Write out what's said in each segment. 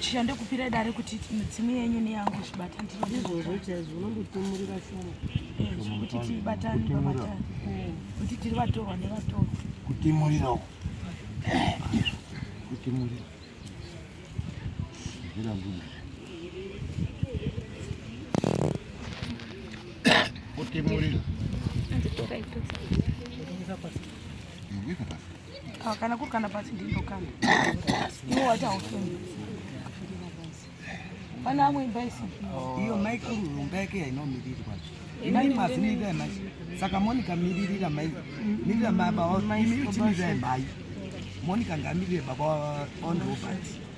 chishande kupira dare kuti midzimu yenyu neyangu zvibata ndizvozvozvaizvozvokuti tibatane pamatare kuti tiri vatorwa nevatorwa kutimurirawo kutimurira kutimurira Ah, kana kuri kana pasi ndindokana iwo waita hofeni pane amwe imba isipi iyo maikuru imba yake yainomirirwa mai mazimirira mai saka monica miririra mai mirira mai baba imiritimirirai mai monica ngamirire baba on robert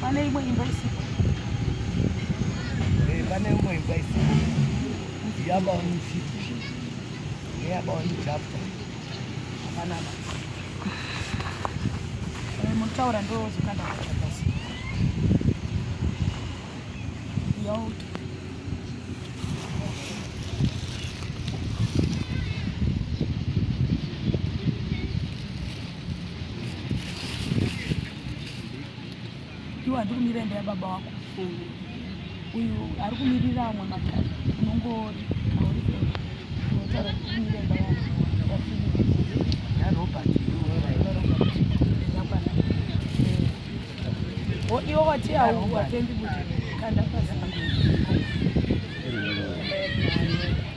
Pane imwe imba isipo. Eh, pane imwe imba isipo. Yaba mfiti. Yaba mjapa. Hapana. Eh, mutaura ndo zikanda basi. Yo. iwe handi kumira imba yababa wako uyu ari kumirira amwe makadzi unongori auri kunotaura kuti kumira imba yako iwo wati hauwatendi kuti kanda pazaa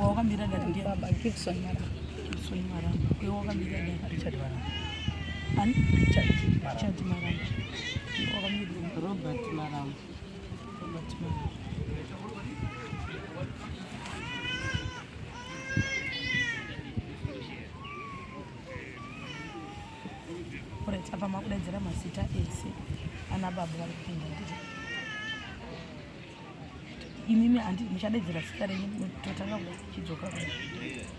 wakamira dati ndiye baba Gibson Maramba Gibson Maramba uyo wakamira dati Richard Maramba ani Richard Maramba wakamira Robert Maramba apa makudaidzira mazita ese ana baba vari kupinda ndii imimi handi muchadaidzira zita renyu totanga kuchidzoka kudai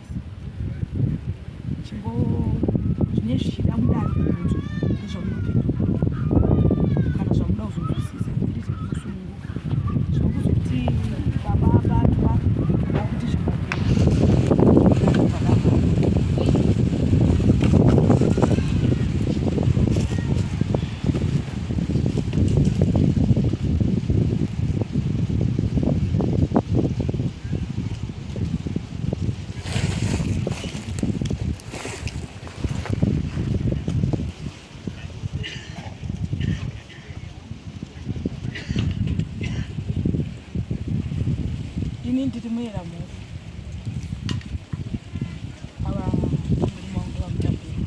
chimbo zvine zvichida mudare kunzwa nezvamunopindura kana zvamuda kuzonzwisisa zvirizve kusununguka zvinokuzokuti baba abatwa akuti ini ndiri muera mhuri ava mberi mangu vamutambiri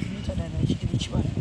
inoita dada chitiri chivanhu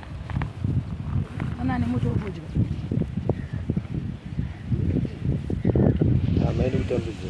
Ana ane moto wokudya. Hama iri kutambudzwa.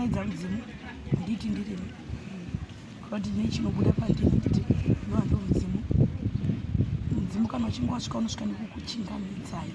kudaidza mudzimu handiti ndirimi kuti nechinobuda pandini nditi nohando mudzimu mudzimu kana uchinge wasvika unosvika nekukuchingamidzayi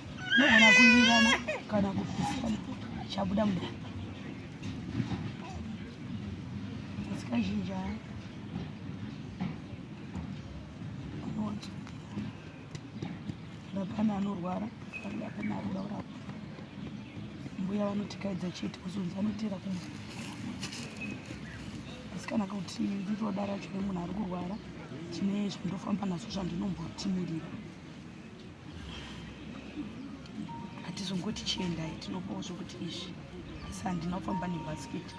nogona kuvirana kana kupisana chabuda mudani asi kazhinji haa rapana anorwara rapana akuda kurapa mbuya vanotikaidza chete kuzonzi anotera kumba asi kana kuti nditoda racho remunhu ari kurwara tine zvandofamba nazvo zvandinombotimirirwa hatizongoti chiendai tinopawo zvokuti izvi asi handina kufamba nebhasikiti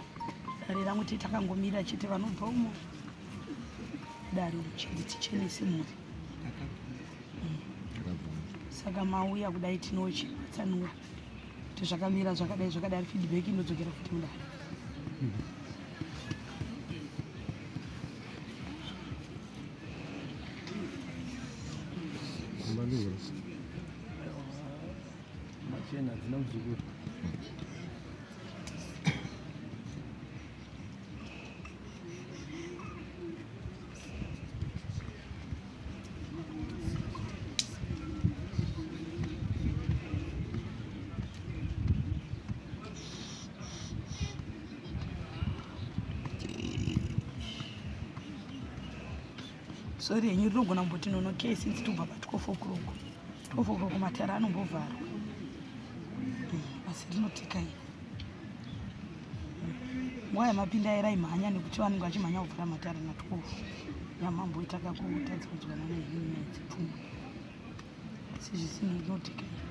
dare rangu tete takangomira chete vanobva umo dare uchinzi tichenese mhuri saka mauya kudai tinochipatsanura kuti zvakamira zvakadai zvakadai feedback inodzokera futi mudare mm -hmm. Machena dzina muzukuru. Sorry henyu rinogona kumboti nono ke since tobva pa 12 o'clock. 12 o'clock matara anombovharwa. Eh, asi rinotika iri. Nguva yamapinda era imhanya nekuti vanenge vachimhanya kuvhara matara na 12. Yamambo itaka kutadza kunzwana nehenyu nyaya dzepfungwa. Asi zvisinei rinotika iri.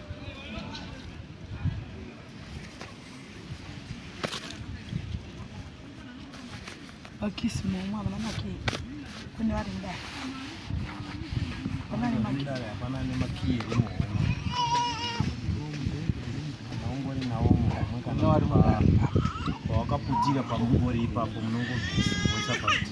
vakisi momwe havana makii kune vari mudare havana nemakii havana nemakii ungori nawo muhomwe kana wari mudare pawakaputira pamungori ipapo munongobvisa voisa pakuti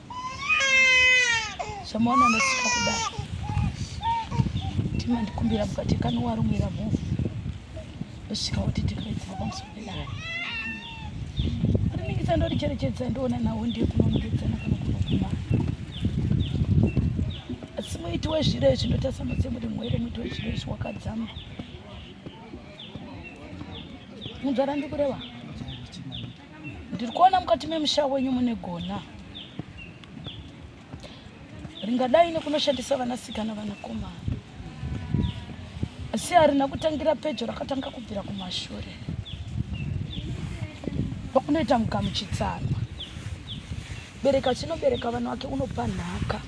zvamaona ndosika kudai timandikumbira mukati kanowarumwira mhofu ndosvika kuti tikaidzira pamusoro pedara riningisa ndoricherechedza ndoona nawo ndiye kunonongedzana kana kunoguma asi muiti wezviro izvi ndotasa mutse muri mwere muiti wezviro izvi wakadzama munzvara ndikureva ndiri kuona mukati memusha wenyu mune gona ringadai nekunoshandisa vanasikana vanakomana asi harina kutangira pedyo rakatanga kubvira kumashure pakunoita mugamuchitsanwa bereka chinobereka vana wake unopa nhaka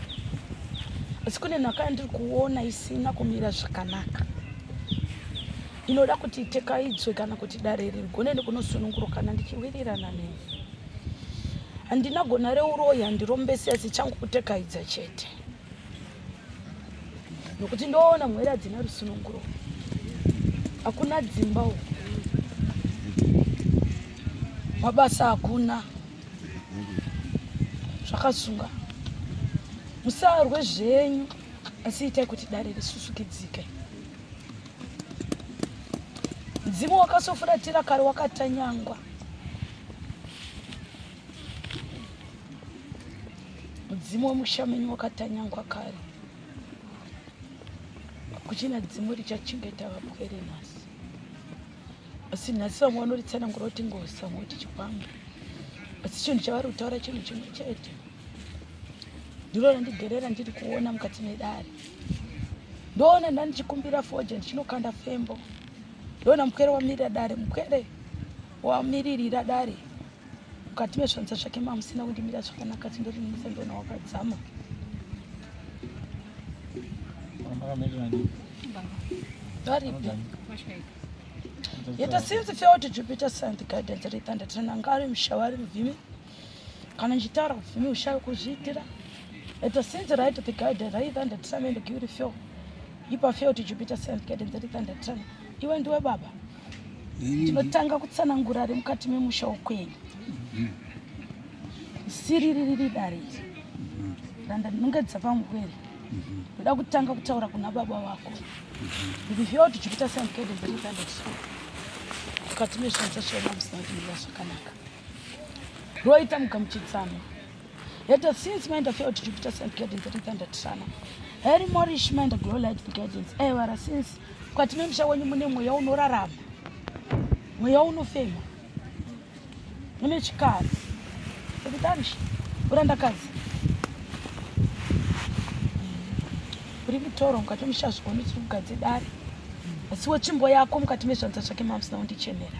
asi kune nhaka yandiri kuona isina kumira zvakanaka Ndinoda kuti itekaidzwe kana kuti dare iri rigone nekunosunungurukana ndichiwirirana neni. Handina gona reuroyi handirombesi asi changu kutekaidza chete. Nokuti ndoona mwere hadzina rusununguro. Hakuna dzimba uku. Mabasa hakuna. Zvakasunga. Musarwe zvenyu asi itai kuti dare risusukidzike. Mzimu wakasofuratira kare wakatanyangwa. Mzimu wemushamenyi wakatanyangwa kare. Kuchina dzimu richachengeta vapwere nhasi. Asi nhasi vamwe vanoritsanangura kuti ngozi vamwe kuti chikwambo. Asi chinhu chavari kutaura chinhu chimwe chete. Ndiro randigerera ndiri kuona mukati medare. ndoona ndandichikumbira foje ndichinokanda fembo ndoona mupwere wamirira dare mupwere wamiririra dare mukati mezvanza zvake mamusina kundimira zvakanaka tindorinisa ndoona wakadzama varipi yeta since feo to jupiter sand guidance rethandatirana ngari mushavari muvhimi kana ndichitaura kupfumi ushayo kuzviitira at the since right the guide right and the time and give feel ipa feel to jupiter sent get and that and the time iwe ndiwe baba tinotanga kutsanangura ari mukati memusha wokwenyu siriririri dare iri randa ndinonge dzapamugwere ndoda kutanga kutaura kuna baba vako kuti feel to jupiter sent get and that and the time mukati mezvinhu zvachona musina kuti mira zvakanaka roita mugamuchidzano heta since maenda fail to jupiter sent guidance atitanda tisana heri morish maenda glow light the guidance evara eh, since mukati memusha wenyu mune mweya unorarama mweya unofema mune chikara ekutanji urandakadzi uri mutoro mukati memusha zvigoni tiri kugadze dare asi wetsvimbo yako mukati mezvanza zvake mamsina undichenera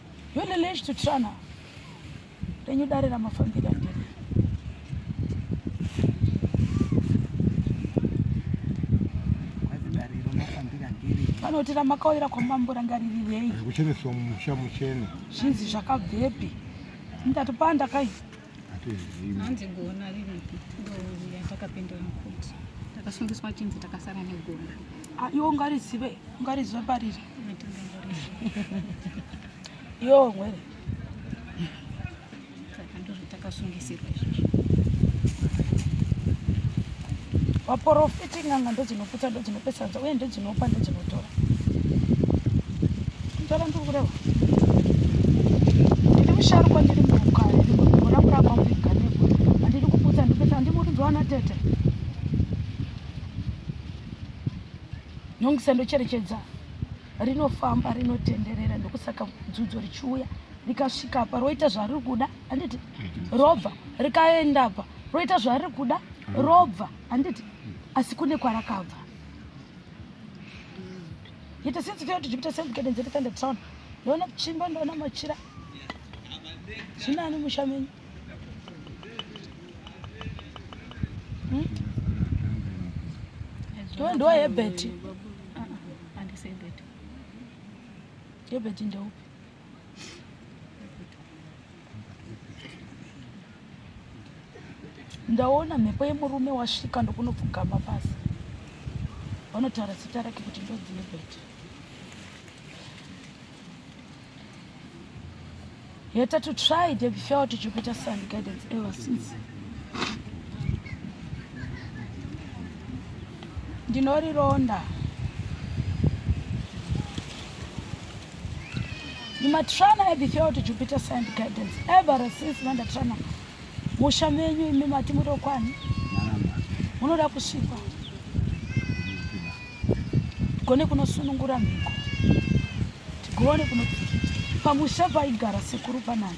Yule lesh to trana renyu dare ramafambira ndiri vanoti ramakauyira kwamambo ranga ririrei kuchereswa mumusha muchene zvinzi zvakabvepi ndati pandakaita hanzi gona riripi ndouya takapindura mukuti takasungiswa chinzi takasara negona ah, iwo ngarizive ngarizive pariri yo mwere saka ndozvo takasungisirwa izvozvo vaporofita Kuti n'anga ndodzinoputsa, ndodzinopesanza uye ndodzinopa, ndodzinotora. Ndora ndiri kureva. Ndiri musharukwa ndiri mhuka, ndiri mvura kuramba muiganeko. Handidi kuputsa, ndipetsa, handimurinzwa ana tete. Nyongisa ndocherechedza rinofamba rinotenderera ndokusaka dzudzo richiuya rikasvika apa roita zvariri kuda handiti robva rikaenda apa roita zvariri kuda robva handiti asi kune kwarakabva yete since feo tichipita sembukedenze titende town ndoona chimba ndoona machira zvinani musha menyu hmm? ndiwe ndiwa yebheti yebheti ndeupi ndaona mhepo yemurume wasvika ndokunopfugama pasi vanotaura zita rake kuti ndodzilibet yeta to try the felt jupiter sun guidance ever since ndinorironda Matrana have felt Jupiter sent guidance ever since mandatrana musha menyu imi mati murokwani munoda kusvikwa tigone kunosunungura mhiko tigone kuno pamusha paigara sekuru panani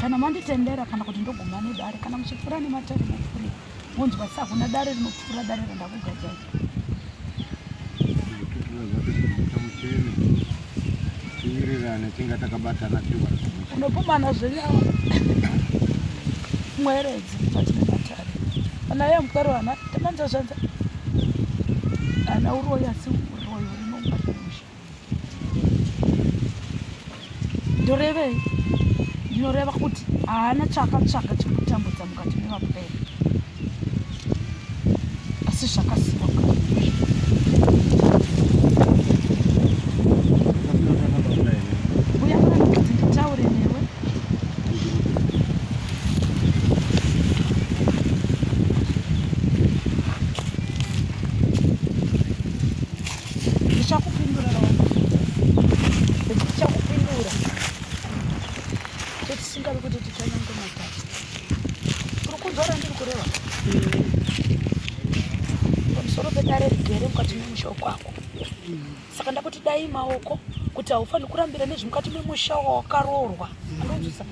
kana manditendera kana kuti ndoguma nedare kana muchipfuura nematare mupfuure wonzwa sa kuna dare rinopfuura dare randakugadzai tiwirirane tinga takabatana unopumana zvenyama mweredzi patine matare ana ye mukaro ana tamanza zvanza ana uroyi asi uroyi urinongamusha ndorevei ndinoreva kuti haana chaakatsvaga chekutambudza mukati mevapwere asi zvakasikwa ndichakupindura ndichakupindura totisingavi kuti tichanyange matatu kuri kudzora ndiri kureva pamusoro pedare rigere mukati memusha kwako saka ndakuti dai maoko kuti haufaniri kurambira nezvi mukati memusha wawakaroorwa anonzwisa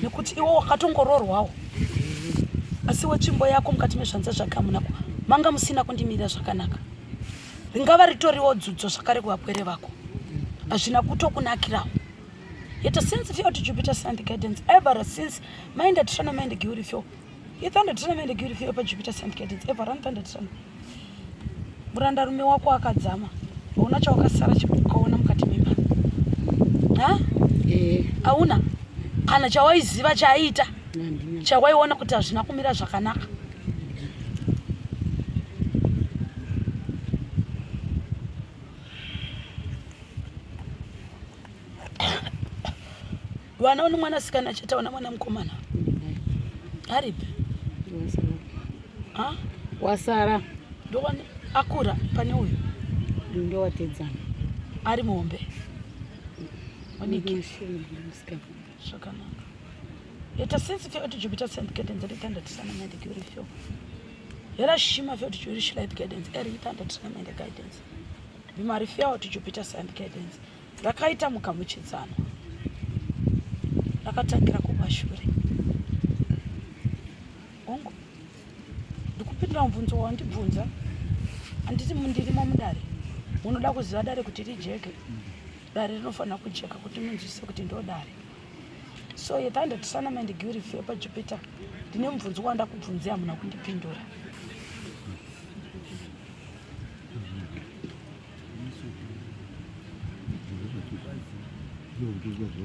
nekuti iwo wakatongoroorwawo asi wetsvimbo yako mukati mezvanza zvake amunako manga musina kundimirira zvakanaka ringava ritoriwo dzudzo zvakare kuvapwere vako hazvina kutokunakirawo yet since fyo to jupiter sand guidance ever since mainda tirana mainde giuri fyo ithanda tirana mainde giuri fyo pa jupiter sand guidance ever run thanda tirana muranda rume wako akadzama hauna chawakasara chikukaona mukati memba ha eh. hauna kana chawaiziva chaaiita chawaiona kuti hazvina kumira zvakanaka vana une mwana sikana chete una mwana mukomana aripi wasara ndokwani akura pane uyu ndowatedzana ari muhombe Zvakanaka. Ita sense feel kuti Jupiter sent guidance iri tanda tisana mind kuri feel. Hera shima feel kuti Jupiter light guidance iri tanda tisana mind guidance. Bimari feel kuti Jupiter sent guidance. Rakaita mukamuchidzana. Rakatangira kumashure. Hongu. Ndikupindura mubvunzo wandibvunza. Anditi mundirimo mudare. Unoda kuziva dare kuti rijeke. Mm -hmm. Dare rinofanira kujeka kuti munzwisise kuti ndodare. So you can't sana mandi guri fe pa Jupiter. Ndine mubvunzo wanda kubvunzia hamuna kundipindura.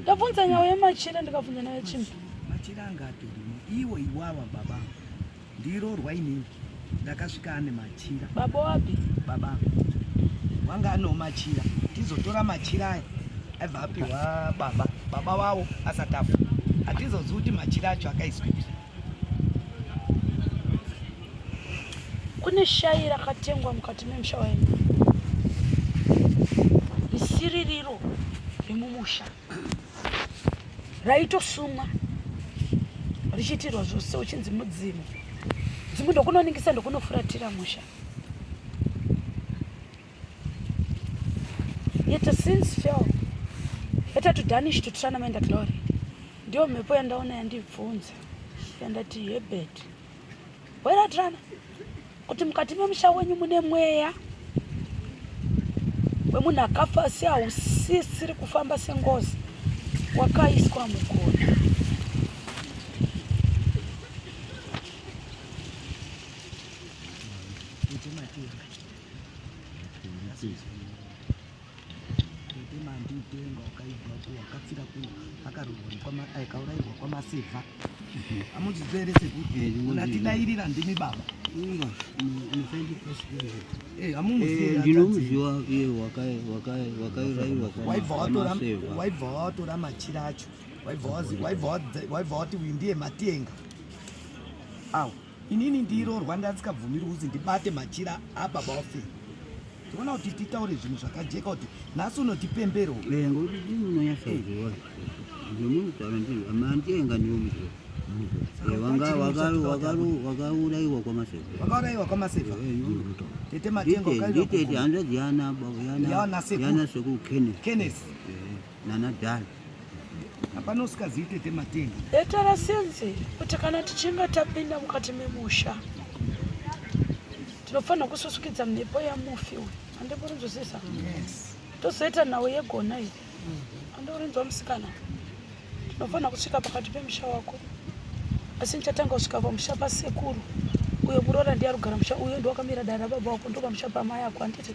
Ndabvunza nyaya yemachira ndikabvunza nayo chimbi. Machira angatorimo iwo iwawa baba. Ndiroorwa inini ndakasvika ane machira. Baba wapi? Baba wanga ano machira tizotora machira aya aibva apiwa baba baba wavo asati afa hatizozivi kuti machira acho akaiswei kune shayi rakatengwa mukati memusha waino isiririro remumusha raitosumwa richiitirwa zvose uchinzi mudzimu dzimu ndokunoningisa ndokunofuratira musha yet since fell better to danish to try namenda glory ndiyo mhepo yandaona yandibvunza yandati hebedi Weratirana kuti mukati memusha wenyu mune mweya wemunhu akafa asi hausisiri kufamba sengozi wakaiswa mugona. Thank you. Tete mandi utenga wakaibva ku wakafira ku akarurwa kwa akaurairwa kwa masiva. Amuchizere sekuti unatidairira ndimi baba. Inga musaidi kusikira. Eh amuziva. Eh ndinomuziva iye wakai wakai wakaurairwa kwa waibva watora waibva watora machira acho. Waibva wazi waibva waibva wati ndiye matenga. Awu. Inini ndiroorwa ndandikabvumiri kuzi ndibate machira ababa wafe. Tinoona kuti titaure zvinhu zvakajeka kuti nhasi unoti pembero. Eh ngokuti ndinoona yasaziwa. Ndinoona kuti ndiri amantenga ndiwo muzvo. wakauraiwa kwamasekuvakauraiwa kwamasekva tete matenga hanzvadzi yana sekukenneth nana dal hapana usikazivi tete matenga etara senzi kuti kana tichinge tapinda mukati memusha tinofanira kususukidza mhepo yamufi uyu andikurinzwisisa tozoita nhau yegona iyi andikurinzwa musikana tinofanira kusvika pakati pemusha wako asi ndichatanga kusvika pamusha pasekuru uyo muroora ndiye arugara musha uyo ndiwakamira dara baba wako ndopamusha pamai ako handiti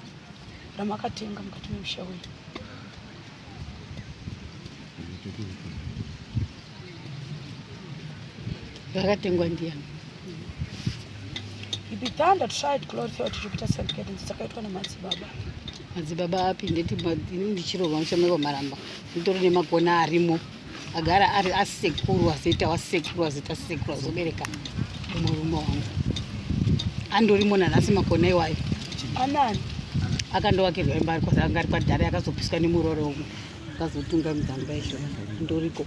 ramakatenga mukati memusha wenyu rakatengwa ndiani ibidhanda tried glory theo tichikuita sentkedence dzakaitwa nemadzibaba madzibaba api ndeti ini ndichirohwa mushameko maramba nditori nemagona arimo agara ari asekuru azoita wasekuru azoita sekuru azobereka murume wangu andorimo nanhasi makona iwayo anani akandovakirwa imba ari kwasanga ari kwadhara yakazopiswa nemurore umwe akazotunga mudzamba izvo ndoriko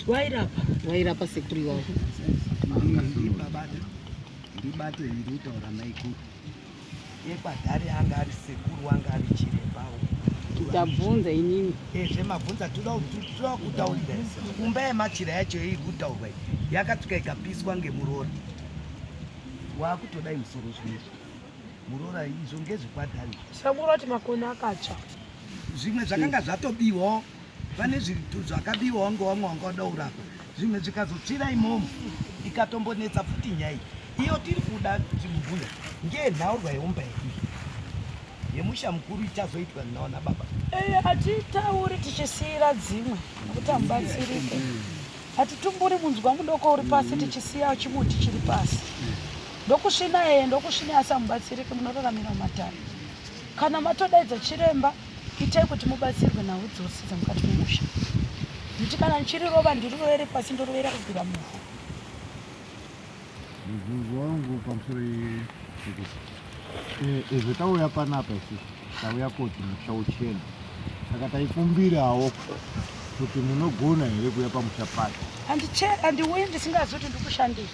vairapa vairapa sekuru iwayo ndibate nditaura maikuru ekwadhari anga ari sekuru anga ari chirembawo tabvunza inini eh, zvemabvunza toda kutaurira kumba yemachira yacho iri kutaurwa yakatuka ikapiswa ngemurora waakutodai musoro zvinezvi murora izvo ngezvekwadhari sekuru ati makona akatsva zvimwe zvakanga zvatobiwawo vane zvinhu zvakabiwa wange wamwe wanga wada kurapa zvimwe zvikazotsvira imomo ikatombonetsa futi nyaya iyo tiri kuda chimubhuya ngenhaurwa yeumba yedu yemusha mukuru ichazoitwa ndinaona baba eh, hatitauri tichisiira dzimwe nokuti hamubatsirike hatitumburi munzwa mudoko uri pasi tichisiya chimuti chiri pasi ndokusvina yeye ndokusvina asi hamubatsirike munoraramira mumatare kana matodaidza chiremba Itai kuti mubatsirwe nhau dzose dzamukati memusha kuti kana ndichiri rova ndirirovere pasi ndorovera kubvira muvhu mubvunzo wangu pamusoro ezvo eh, tauya panapa isi tauya koti musha uchena saka taikumbirawo kuti munogona here kuya pamusha pacho handiuyi ndisingazi kuti ndikushandei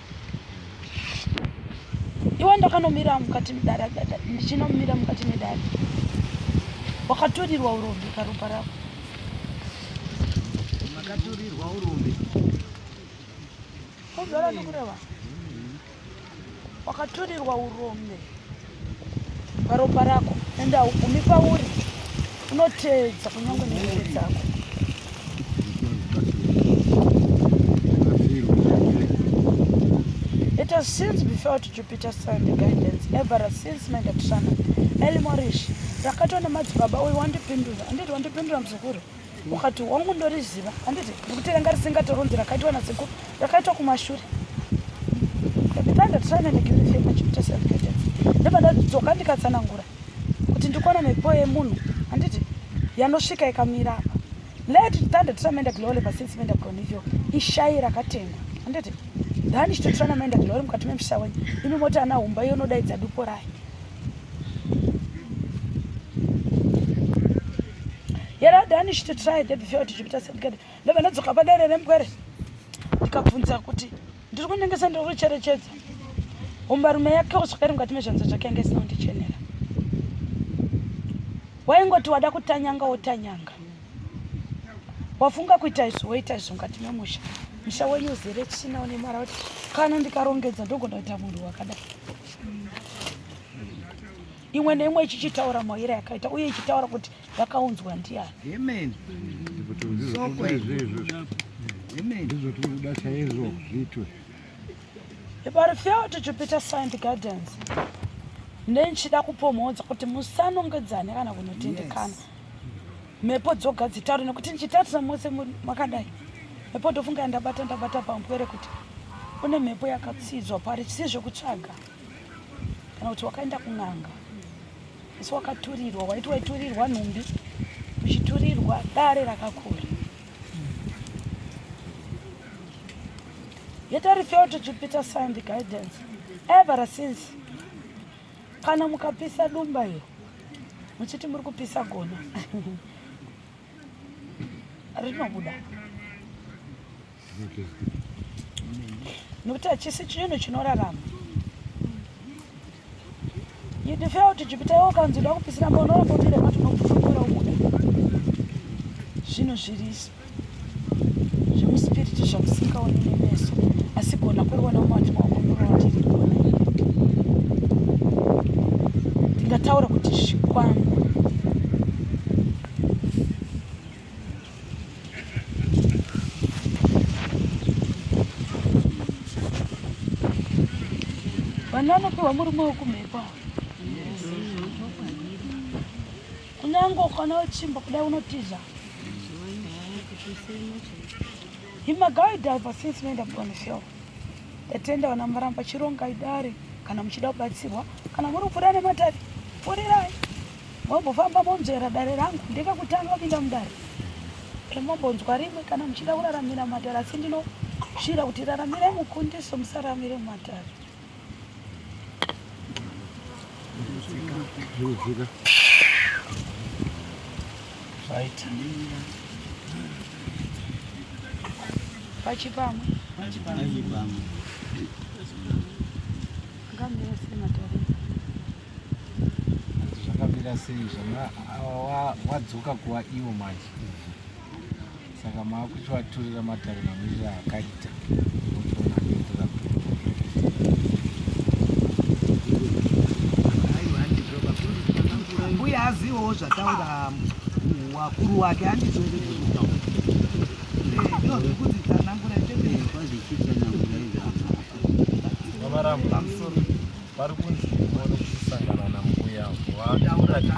iwe ndakanomira mukati medare ndichinomira mukati medare wakaturirwa urombe karopa rako makaturirwa urombe kuzvara ndikureva wakaturirwa urombe paropa rako ende haugumi pauri unoteedza kunyange nemhuri dzako It has since before to Jupiter Sun the guidance ever since Megatron Elimorish ndakatona madzibaba uyu wandipindura anditi wandipindura muzukuru ukati hongu ndoriziva handiti nekuti ranga risingatoronzi rakaitwa nasekuru rakaitwa kumashure ndibva ndadzoka ndikatsanangura kuti ndikuona mhepo yemunhu handiti yanosvika ikamira apa let thunder tiramenda glory pasince menda gonivyo ishayi rakatengwa handiti dhani chitotirana menda glory mukati memusha wenyu imi moti ana humba iyo unodaidza dupo rayo yari adani chito try the before tichipita sendikade ndobva ndadzoka padare rembwere ndikabvunza kuti ndiri kunengesa ndiri kucherechedza umbarume yake uswere mukati mezvanza zvake yange isina kundichenera waingoti wada kutanyanga wotanyanga wafunga kuita izvo woita izvo mukati memusha musha wenyu uzere tsvina une mara kuti kana ndikarongedza ndogona kuita munhu wakadai imwe neimwe ichichitaura mauyire yakaita uye ichitaura kuti yakaunzwa ndiani Amen. Soko izvozvo. Amen. Ndizvo tiri kuda chaizvo zviitwe. If I refer to Jupiter Science Gardens, nenichida kupomhodza kuti musanongedzane kana kunotendekana. mhepo dzoga dzitaure nekuti ndichitarisa mose makadai mhepo ndofunga ndabata ndabata pampwere kuti une mhepo yakatsidzwa pari chisi zvekutsvaga kana kuti wakaenda kun'anga asi wakaturirwa waiti waiturirwa nhumbi uchiturirwa dare rakakura yet i refer to jupiter sun the guidance ever since Kana mukapisa dumba iyo muchiti muri kupisa gona rinobuda nokuti hachisi chinhu chinorarama idifea kuti jupita iwo kanzi uda kupisira mba unorambomire mati unokufumbira ubuda zvinhu zviriso zvemuspiriti zvamusingaoni nemeso asi gona kuriona mumati mawako murowa tiri gona ndingataura kuti zvikwambo vanhu vanopiwa murume wekumhepo Kunyange ukwana wechimba kudai unotiza. Himagawi diver since unoenda bwana show. Tatenda wana maramba chironga idare kana muchida kubatsirwa kana muri kupfuura nematavi pfuurirai mombofamba monzvera dare rangu ndekakutanga kupinda mudare remombonzwa rimwe kana muchida kuraramira mumatare asi ndinosvira kuti raramirai mukundiso musaramire mumatare Zvirudzika. Right. Pachipamwe. Pachipamwe. Ngamira sema tari. Zvakamira sei zvanga wadzoka kuwa iwo manje. saka maakuchivaturira matare mamiriro akaita mbuya azivawo zvataura wakuru wake andizvoeeaa vari kunzi muone kusangana nambuya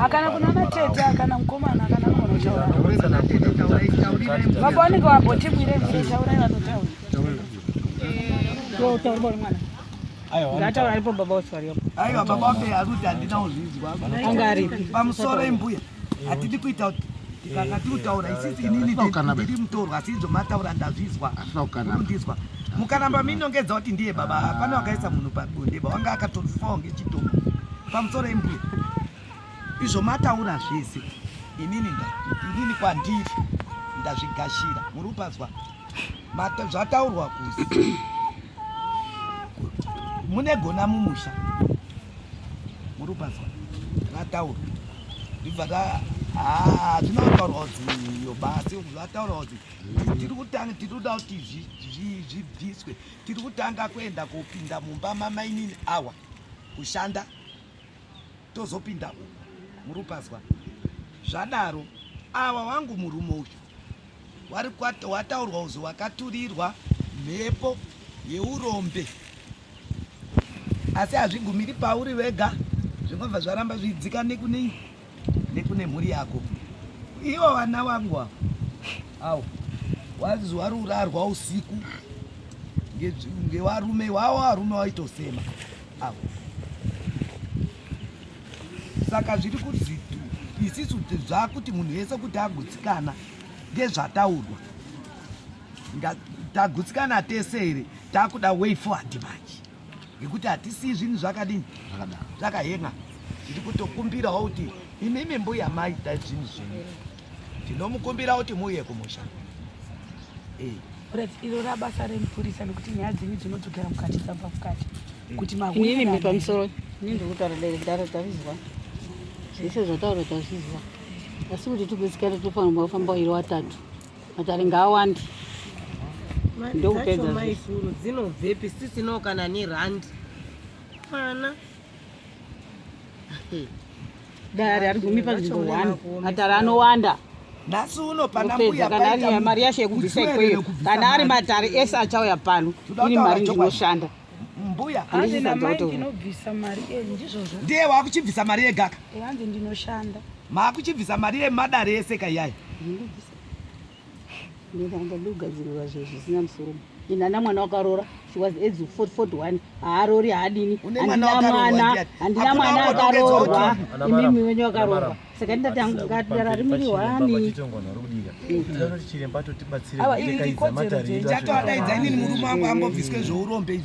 akana kuna matete akana mukomana akana munotauravaoneka vabotibwire mire taurai vanotaura ngataurai po baba oswariyopo aiwa baba ofe akuti handina kuzvinzwa anga aripi pamusoro imbuya hatidi kuita kana tiri kutaura isisi inini ndiri mutorwa asi izvo mataura ndazvizwa ndizwa mukaramba minongedza kuti ndiye baba hapana wakaisa munhu pabonde bawanga akatofa ngechitomo pamusoro embuya izvo mataura zvese inini inini kwandiri ndazvigashira muri kupazwa zvataurwa kusi mune gona mumusha muri kupazwa rataurwa ndibva hazvina kutaurwa kuziyo basi zvataurwa kuzi tiri kutanga tiri kuda kuti zvibviswe tiri kutanga kuenda kopinda mumba mamainini awa kushanda tozopinda uko muri kupazwa zvadaro awa wangu murume uyu wari wataurwa uzi wakaturirwa mhepo yeurombe asi hazvigumiri pauri vega zvinobva zvaramba zviidzika nekune nekune mhuri yako ivo vana vangu avo awo wanzi wari urarwa usiku ngevarume wawo varume waitosema awo saka zviri kuti isisu zvakuti munhu yese kuti agutsikana ngezvataurwa tagutsikana tese here takuda way forward manje ngekuti hatisii zvinhu zvakadini zvakahenga tiri kutokumbirawo kuti imimi mbuya maita zvinhu zvenyu Tinomukumbira kuti muuye kumusha. Eh. Iro rabasa remupurisa nekuti nyaya dzenyu dzinodzokera mukati dzamba mukati eh. kuti mahuinini mi pamusoro ini ndiri kutaura dare dare tazvizwa zvese zvataura tazvizwa asi kuti tikusikare tofanirwa kufamba iri watatu matare ngaawandi ndokupedza maikuru dzinobvepi sisino kana nerandi mwana dare harigumi panzvimbo one matare anowanda nhasi uno pana mbuya kana ari mari yashe yekubvisa ikweyo kana ari matare ese achauya pano ini mari ndinoshanda mbuya ndiye wakuchibvisa mari yegaka maakuchibvisa mari yemadare ese kaiyaya ndanga ndogadzirirwa zvinhu zvisina musoro ini ana mwana wakarora she was age 41 haarori haadini handina mwana handina mwana akarorwa imimi wenyu akarorwa saka ndati hangu ngatidara rimiri wani chiremba totibatsira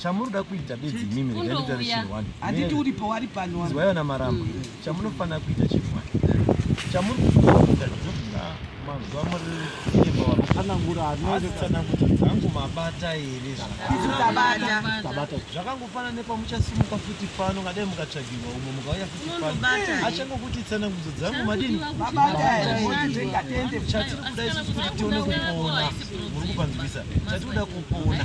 chamunoda kuita bedzi imimi regai ndotaura chinhu wani handiti uri pawari pano wani izwai vana maramba mm. chamunofanira kuita chinhu wani chamuri kufanira kuita zvinofunga mazuva muri kuimba wakafanangura anoita tsanangudzo dzangu mabata here zvakaitabata zvakangofanana nepamuchasimuka futi pano ngadai mukatsvagirwa umwe mukauya futi pano achangokuti tsanangudzo dzangu madini chatiri kuda isusu kuti tione kupona muri kupanzwisa chatiri kuda kupona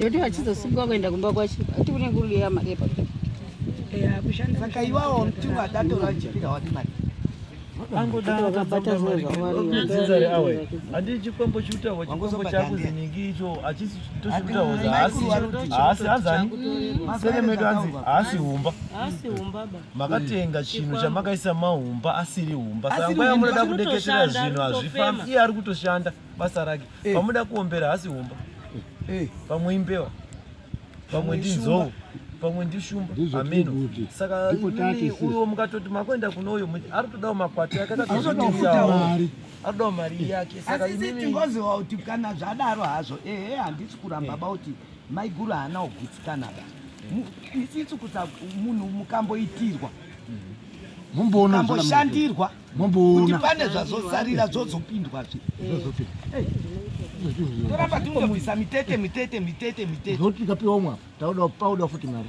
Yoti vachizosungwa kuenda kumba kwacho ati kune nguruli yamari yepakuda saka iwawo mtungu atatora achipira wati mari angodaakabatazozvawarinzari awe handii chikwambo chikutaurwa chikwambo chakuzi ningi icho achisi tochikutaurwa haasi haasi hazani sere medu anzi haasi humba makatenga chinhu chamakaisa mahumba asiri humba saka nguva yamunoda kudeketera zvinhu hazvifambi iye ari kutoshanda basa rake eh. pamuda kuombera hasi humba eh. pamwe imbewa pamwe ndinzou pamwe ndishumba ameno saka uyo mukatoti makuenda kuno uyo ari kutodawo makwati ake akatotisaari anoda mari yake saka imi tingoziva kuti kana zvadaro hazvo ehe handisi kuramba bauti Maiguru haana kugutsikana ba. Isisu kusa munhu mukamboitirwa. Mumboona mukambo Mumboona. Kuti pane zvazosarira zvozopindwa zve. Zvozopindwa. Hey. Toramba tingomuisa mitete mitete mitete mitete. Zvoti kapiwa umwa. Tauda pauda futi mari.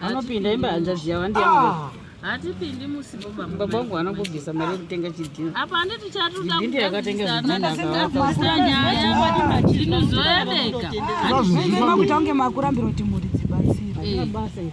anopinda imba hanzvadzi yavo ndiya ah. hatipindi musi baba wangu anongobvisa mari yekutenga chidhino apa handiti chatidhino yakatenga zvidhinozoyabeka makuita kunge makurambira kuti mhuri dzibatsire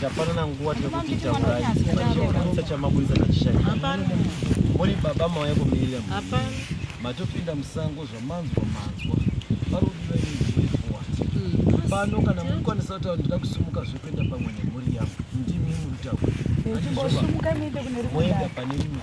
Tapanana nguva tekuti taurai. Chakutsa chamaburitsa nachishaya. Hapana. Muri baba mauya kumirira. Hapana. Matopinda musango zvamanzwa manzwa. Parudira ini hmm. pano kana mukwanisa kutaura ndida kusumuka zvekuenda pamwe nemhuri yangu ndimi muritaura. Moenda pane imwe.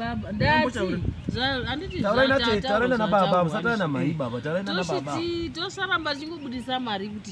baba ndati andititauraina baba musataura namai baba tauraina nababa tosaramba tichingobudisa mari kuti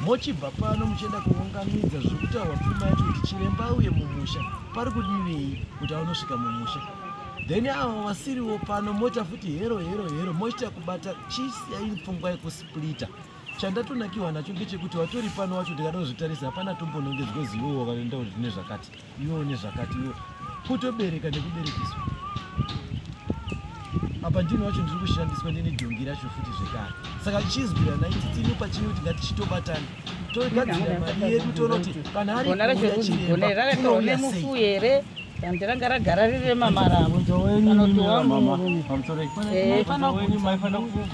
mochibva pano muchienda kuunganidza zviri kutaurwa pfuma yacho kuti chiremba auye mumusha pari kudivei kuti aunosvika mumusha then avo vasiriwo pano moita futi hero hero hero mochita kubata chisiyai pfungwa yekusplita chandatonakiwa nacho ngechekuti watori pano wacho ndikadozvitarisa hapana tombonongedzwa zivo wakaenda kuti zvine zvakati iwe une zvakati iwe kutobereka nekuberekiswa apa ndini wacho ndiri kushandiswa ndine dhongi racho futi zvekare saka tichizwira nai titini pachine kuti ngatichitobatana togadzira mari yedu toona kuti kana ariachirebamufu here dandi ranga ragara riri remamaravo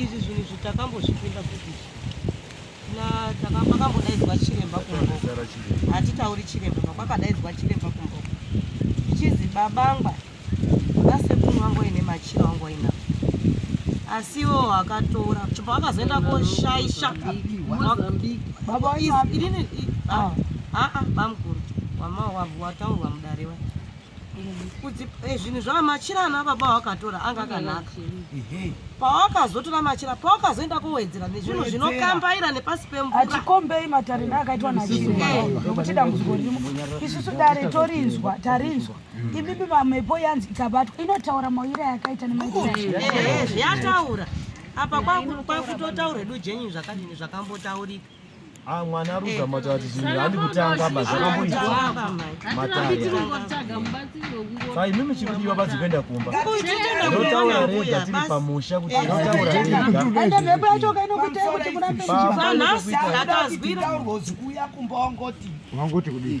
Izvi zvinhu izvi takambozvipinda futi pakambodaidzwa chiremba kumboko hatitauri chiremba pakwakadaidzwa chiremba kumboko ichinzi babangwa vasekuru vangu vaine machira vangu vainavo asi iwo akatora chibva vakazoenda koshaisha inini aa bamukuru wataurwa mudare wa Eh, zvinhu zvava machira ana baba wakatora anga akanaka pawakazotora machira pawakazoenda kowedzera nezvinhu zvinokambaira nepasi pemvuraatikombei matariro akaitwa nachirinokuti dambudziko rimo isusu dare torinzwa tarinzwa ibibi mamepo yanzi ikabatwa inotaura mawira yakaita nemazviyataura eh, eh, apa kwakutotaura hedu jenyu zvakadini zvakambotaurika Ah, mwana ari kuzama kutaura kuti zvinhu handi kutanga ba zvakamboita matayasaka imi muchiri kuti vabazi kuenda kumba ndotaura rega tiri pamusha kuti ndotaura regaende mhepo yacho kainokuitai kuti kurambeanhasi akazwira kuuya kumba wangoti wangoti kudii